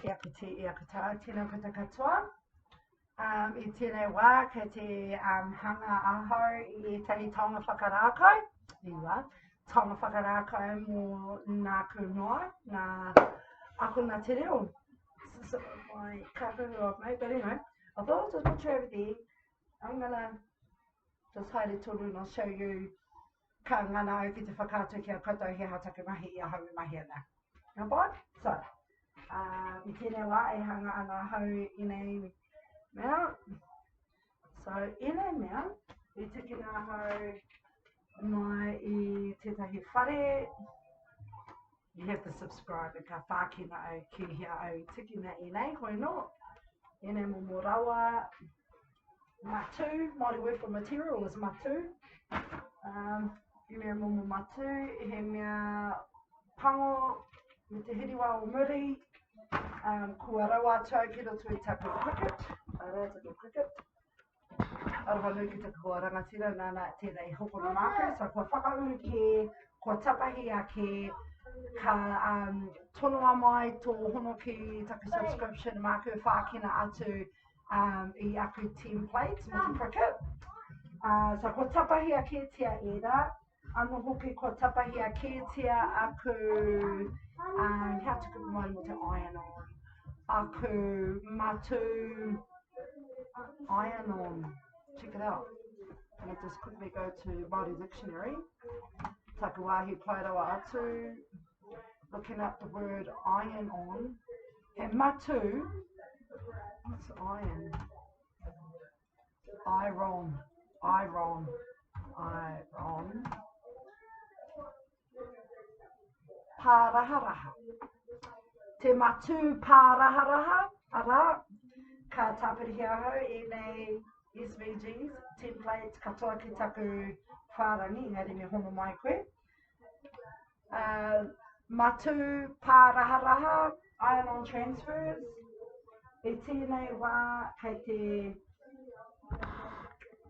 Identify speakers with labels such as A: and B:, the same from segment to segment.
A: E aku te, e aku tā, tēnā koutou katoa. Um, I tēnei wā, kei te um, hanga ahau i ētahi taonga whakarākau, i wā, taonga whakarākau mō nāku noa, nā akona te reo. So, my cousin of mate, but anyway, I thought it was a picture over there. I'm gonna just hide it till and I'll show you ka ngana au ki te whakaatu ki a koutou he aha taku mahi i ahau e mahi ana. Now Bob, so, uh, i tēnei wā e hanga ana ahau i nei mea, so i nei mea, i tukina ahau mai i tētahi whare, you have to subscribe ka whākina au ki hea au tikina i nei hoi no i nei mo mo rawa matu Māori word for material is matu um, i nei mo mo matu he mea pango me te hiriwa o muri um, kua rawa atu au ki roto i taku cricket a rā taku cricket Aroha nui ki te kua rangatira nana tēnei hokona māku, so kua whakauru kē, kua tapahi ake, ka um, tonoa mai tō hono ki taku subscription māku whākina atu um, i aku template mo te cricket. Uh, so kua tapahi ake tia ēra, Ano hoki kua tapahia kētia aku, um, how to cook one with the iron on, aku matu iron on. Check it out. I'm going to just quickly go to Māori Dictionary. Taku wāhi pai rawa atu. Looking up the word iron on. He matu. What's iron? Iron, iron, iron. Pāraharaha. Te matū pāraharaha, arā, ka tāpirihi ahau i nei SVGs, templates, katoa ki taku whārangi, engari me hono mai koe. Uh, matū pāraharaha, iron transfers, i tēnei wā kei te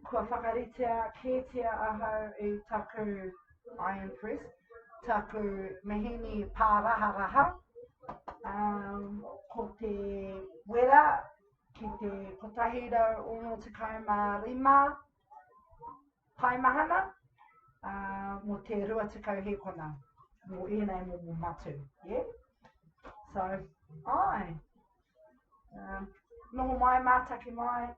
A: kua whakaritea kētia ahau i taku iron press, taku mehini pāraharaha, um, ko te wera ki te 165 Pai mahana, ā, mō te rua tekau hēkona, mō ēnei momo matū, yeah? So, ai, ā, noho mai, mātaki mai,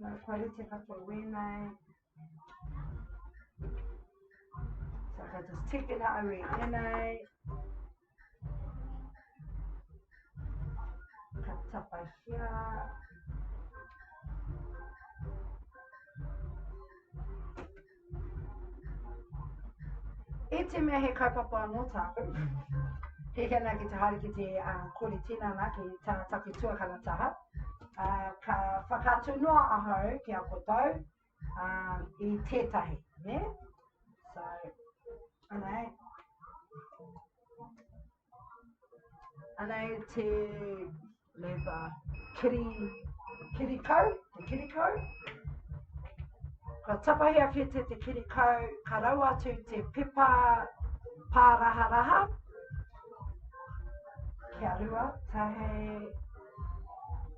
A: nā, kua rite katoa wēnei, so ka just tikina au i ēnei, Ka tapahia. E te mea he kaupapa anō tāku, he hea nā ki te haere ki te uh, ah, kori tinana ki tā taku tuakana taha, uh, ka whakatu noa ahau ki a kotau, uh, i tētahi, ne? So, anei, anei te lewa kiri, kiri kau, te kiri kau. Ka tapahi a whete te kiri kau, ka rau atu te pepa pāraha raha. Kia rua, tahei,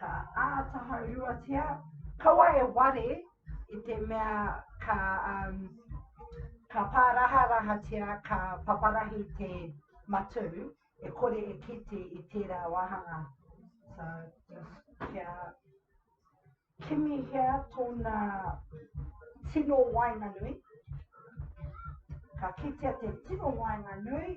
A: Ka āta hauruatia, kaua e ware i te mea ka, um, ka pāraharahatia, ka paparahi te matū, e kore e kite i tērā wāhanga. So, just kia kimihia tōna tino waenganui. Ka kitea te tino waenganui.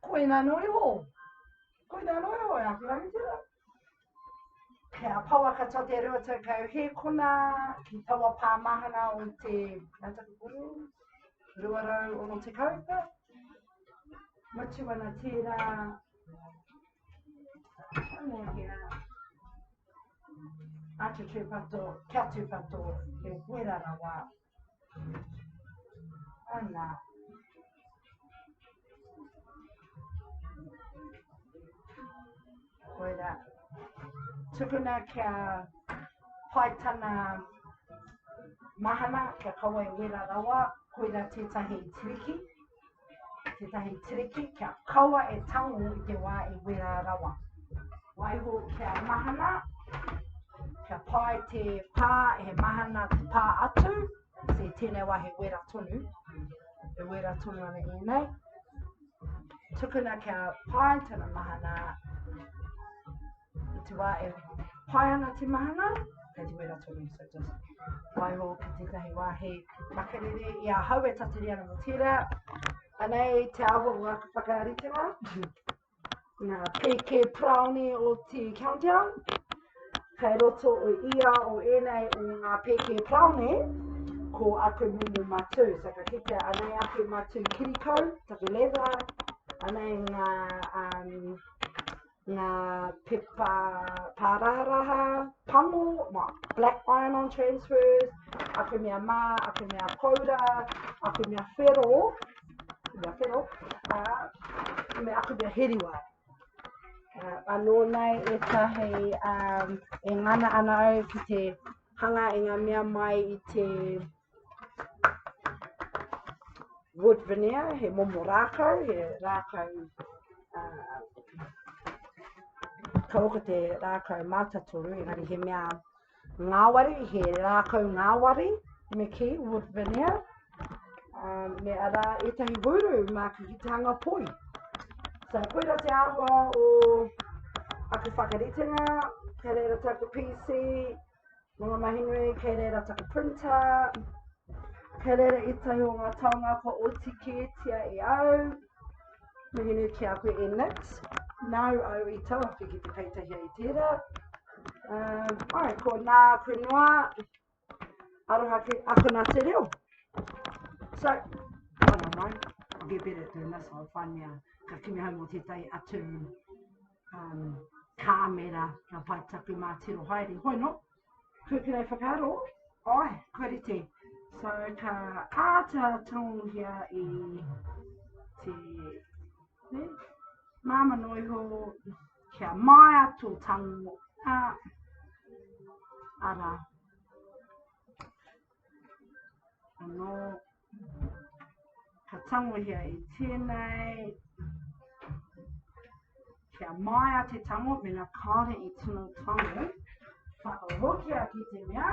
A: Koina no iho. Koina no iho e aku rangatira. Kei a Pawa katoa te reo tau kau he kona ki tawa pā mahana o te nataku kuru. Rua rau ono te kaupa. Matu ana tērā. Ano hea. Atu tūpato, kia tūpato, he wera rawa. Koirā. Tukuna kia pai tana mahana, kia kawai wera rawa, koirā tētahi tiriki. tētahi tiriki kia kaua e tango i te wā e wera rawa. Waiho kia mahana, kia pai te pā, he mahana te pā atu, se tēnei wā he wera tonu, he wera tonu ana i nei. Tukuna kia pai tana mahana, I te wā e pai ana te mahana, kei te wera tonu, so just waiho ki tētahi wāhi makariri i a hau e tatari ana mō tērā. Anei te awa o aku whakaritenga, ngā pēke praone o te countdown. Kei roto o ia o ēnei o ngā pēke praone, ko aku mumu matū. So ka kitea anei aku matū kirikau, taku leather, anei ngā um, ngā pepa pārāraha, pango, black iron-on transfers, aku mea mā, aku mea koura, aku mea whero, aku mea whero, uh, me aku mea heriwa. Uh, anō nei e tahi um, e ngana ana au ki te hanga i ngā mea mai i te Wood veneer, he momo rākau, he rākau uh, kau ko te rākau mātatoru, engari he mea ngāwari, he rākau ngāwari, me ki, wood veneer, uh, me ara etahi wūru mā ki ki tānga poi. So, koira te āhua o aku whakaritenga, kei reira tāku PC, Nō ngā mahi nui, kei reira taku printa, kei reira ētahi o ngā taonga kua oti kētia e au. Mihi nui ki a koe e Nix, nāu au i tawhaki ki te peitahia i tērā. Um, ai, ko nā koe noa, aroha ki akona te reo. So, mana mai, I'll be better at doing this, I'll find me a, ka kimi hau mō tētahi atu um, kāmera, ngā pae tapu mā tiro haere. Hoi no, kua pera e whakaaro, ai, kua rite. So ka āta tonguhia i te ne, māma noiho, kia maia tō tango, a, ara. Anō, Ka tangohia i tēnei. Kia maia te tango, mena kāre i tino tango. Whakarokia ki te mea.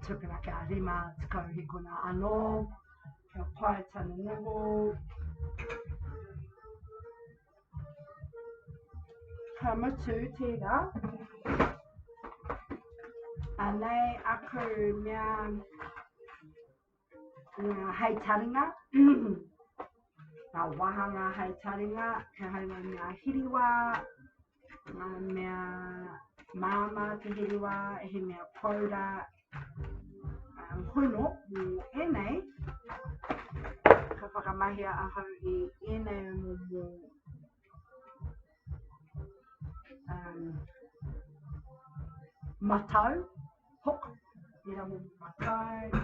A: Tukuna kia rima, tukau hikona anō. Kia pae tanu noho. Ka mutu tērā. Anei aku mea ngā hei taringa. Ngā wāhanga hei taringa, kia haunga ngā hiriwā, ngā mea māmā te hiriwā, he mea pōra, um, hono mō ēnei, ka whakamahia ahau i ēnei mō mō um, matau, hook, ira mō matau,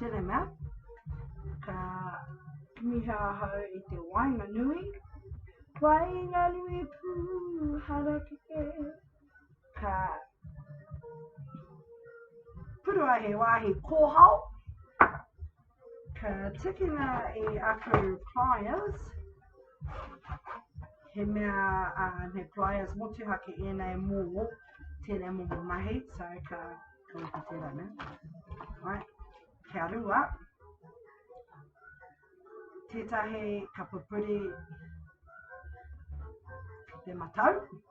A: Tēnei mea, ka kimiha ahau i te wainga nui, wainga nui pū harakeke, ka purua he wāhi kōhao, Ka tukuna i aku pliers, he mea, uh, he pliers motuhake ēnei mō tēnei momo mahi, so ka kawaka tērā ne. Right. Kia rua, tētahi ka pupuri te matau,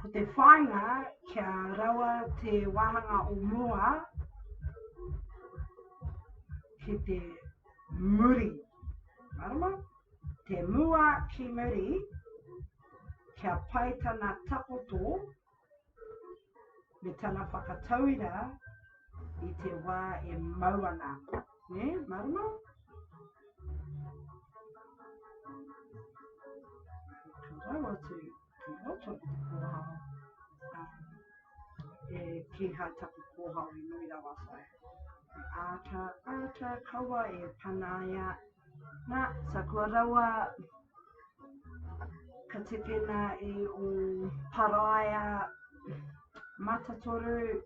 A: Ko te whāinga kia rawa te wāhanga o mua ki te muri. Marama? Te mua ki muri, kia pai tana takoto me tana whakatauira i te wā e mau ana. Ne, marama? Rawa tu, ki roto ki te kōhao. E ki hai tapu kōhao i nui rawa whai. Āta, āta kawa e panaia Na, sa kua raua ka tekena i o Paraia Matatoru,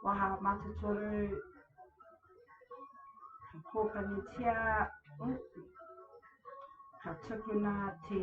A: Waha Matatoru, ka kōpanitia, oh, ka tukuna te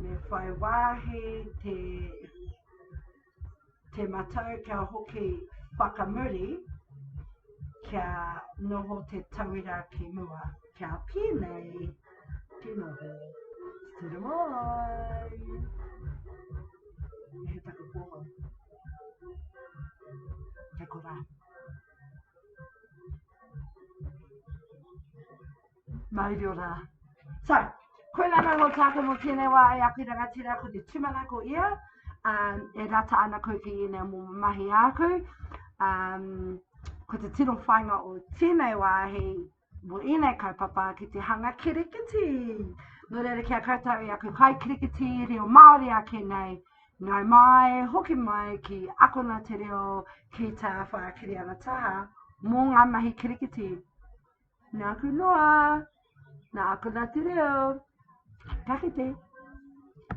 A: Me whai wāhi te te matau kia hoki whakamuri kia noho te tauira ki mua. Kia pēnei te noho. Tura mai! He taku pōho. Kia kora. Maurio rā. So, koinā kau o tāku mō tēnei wā e aku rangatira ko te tumanako ia, um, e rata ana koe ki ina mō mahi āku. Um, ko te tino whainga o tēnei wāhi mō ēnei kaupapa ki te hanga kirikiti. Nō reira ki a koutou i aku kai kirikiti reo Māori ake nei, ngai mai, hoki mai ki akona te reo ki tā whākiri ana taha mō ngā mahi kirikiti. Nāku noa, nāku Ngāti Reo, ka kite.